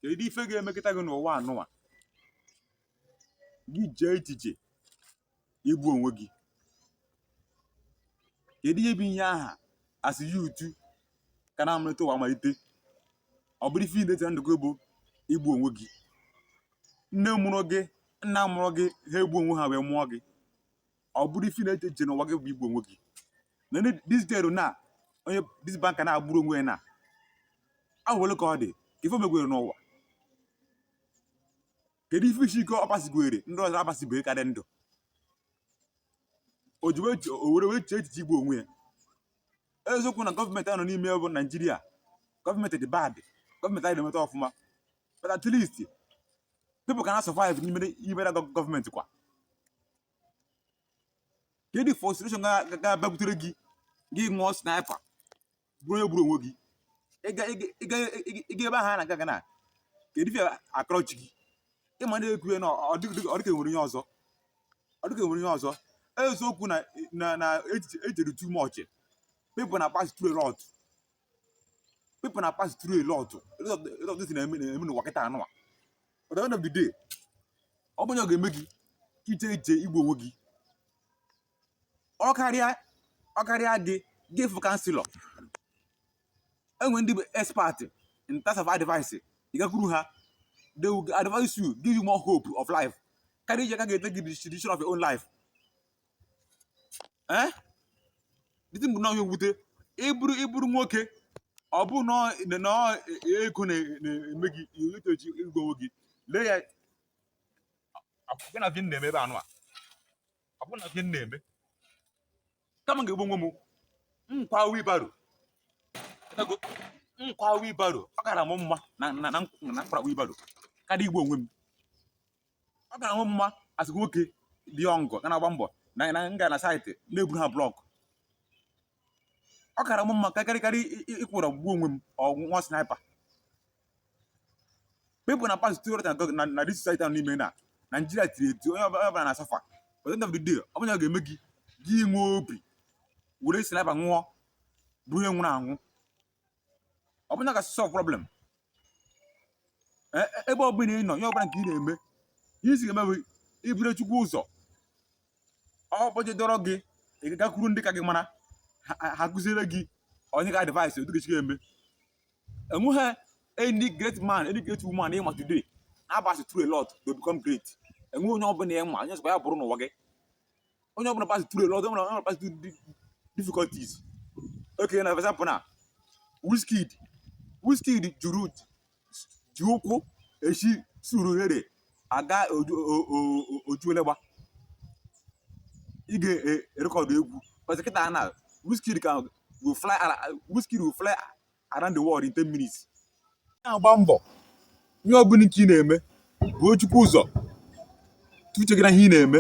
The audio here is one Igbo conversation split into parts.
kedu ife ga-emekata gị n'ụwa a nụwa gị jee echiche igbu onwe gị kedu ihe bụ ihe aha asị ya utu ka na-amalite ụwa malite ọ bụrụ ife i meta ndụ gị bụ igbu onwe gị nne mụrụ gị nna mụrụ gị ha egbu onwe ha wee mụọ gị ọ bụrụ ife na-eche eche n'ụwa gị bụ igbu onwe gị na ndị this girl na onye this banker nwa gburu onwe ya na ahụ ole ka ọ dị ka ife megwere n'ụwa kedu ife isi ike ọ pasịgwere ndị ọzọ apasịbeghị ka dị ndụ o ji wee che- o were wee chee echiche igbu onwe ya eziokwu na gọọmenti a nọ n'ime bụ naijiria gọọmenti dị bad gọọmenti anyị na-emeta ọfụma but at least people ka na survive n'ime n'ime na gọ- gọọmenti kwa kedu frustration ga-abịakutere gị gị ṅụọ sniper bụrụ onye gburu onwe gị ịga ebe ahụ a na-aga gana kedu ife akọrọ chi gị ịma na-ekwu ya na ọ dịka e nwere ihe ọzọ ọ dịka e nwere ihe ọzọ eziokwu na na ejere too much people na pass through a lot people na pass through a lot a lot of, a lot of things na-eme na-eme n'ụwa kịta a nụwa but at the end of the day ọ bụ nya ga-eme gị iche iche igbu onwe gị ọ karịa ọ karịa gị gaa fụ counsellor e nwe ndị bụ expert in terms of advice ị gakwuru ha they will advise you give you more hope of life karịa iche ka ị ga-etake the decision of your own life ee eh? the thing bụ na ọ ihe mwute ịbụrụ ịbụrụ nwoke ọ bụ na ego na-eme gị echiche igbu onwe gị lee ya akwụkwọ na ife na-eme ebe a nụwa akwụkwọ na ife na-eme kama m ga-egbu onwe m m kwaa wheelbarrow m kwaa wheelbarrow ọ kara m mma na m kwara wheelbarrow karịa igbu onwe m ọ kara mụ mma a sị nwoke dị young ga na-agba mbọ na na m gaa na site na-eburu ha block ọ kara m mma karịkarị ịkwụrụ gbuo onwe m ṅụọ sniper people na pass through a lot na na this society a nọ n'ime na Nigeria tiri eti onye ọbụla ọbụla na-asuffer but end of the day ọ bụ nya ga-eme gị gị nwee obi were sniper ṅụọ bụrụ onye nwụrụ anwụ ọ bụ nya ga-asolve problem E- e- ebe ọbụla ị nọ ihe ọbụla nke ị na-eme ihe isi ga-eme bụ iburu chukwu ụzọ ọ bụje dọrọ gị ị gakwuru ndị ka gị mara ha- ha- ha kụziere gị onye ga advice otu ị ga-esi eme enweghị any great man any great woman ịma today na-apasị through a lot to become great enweghị onye ọbụla ịma onye sọkwa ya bụrụ n'ụwa gị onye ọbụla pass through a lot onye ọbụla pass through di- difficulties okay na for example na Wizkid Wizkid juru ji ụkwụ eshi Surulere aga oju- o- o- o- Ojuelegba ịga erekọdụ egwu because kịta na Wizkid ka will fly ala Wizkid will fly around the world in 10 minutes na-agba mbọ ihe ọbụla nke ị na-eme buo Chukwu ụzọ tii uche gị na ihe ị na-eme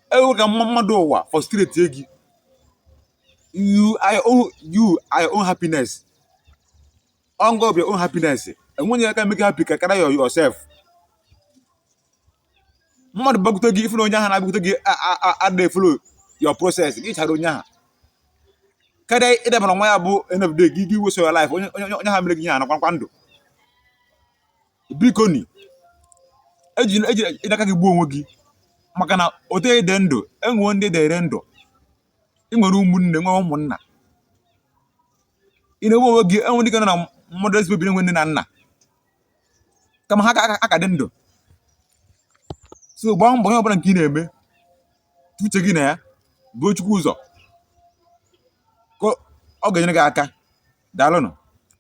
ekwela ka mma- mmadụ ụwa frustrate gị you are your own happiness ọ ngị bụ your own happiness enweghị onye ka emake you happy ka karịa yourself mmadụ bịakwute gị ị fụ na onye ahụ na-abịakwute gị adịghị efollow your process gị chara onye ahụ karịa ịdabara nwa ya bụ end of the day gị gị waste your life onye onye- onye ahụ mere gị ihe a nọkwa kwa ndụ bikonị eji eji eji aka gị gbuo onwe gị maka na otu ị dị ndụ enwewo ndị dịrị ndụ ị nwere ụmụnne nwee ụmụnna ị na-egbu onwe gị enwe ndị ga na mmadụ ezigbo biri nwe nne na nna kama ha aka dị ndụ so gbaa mbọ ihe ọbụla nke ị na-eme tii uche gị na ya buo Chukwu ụzọ ka ọ ga-enyere gị aka daalụnụ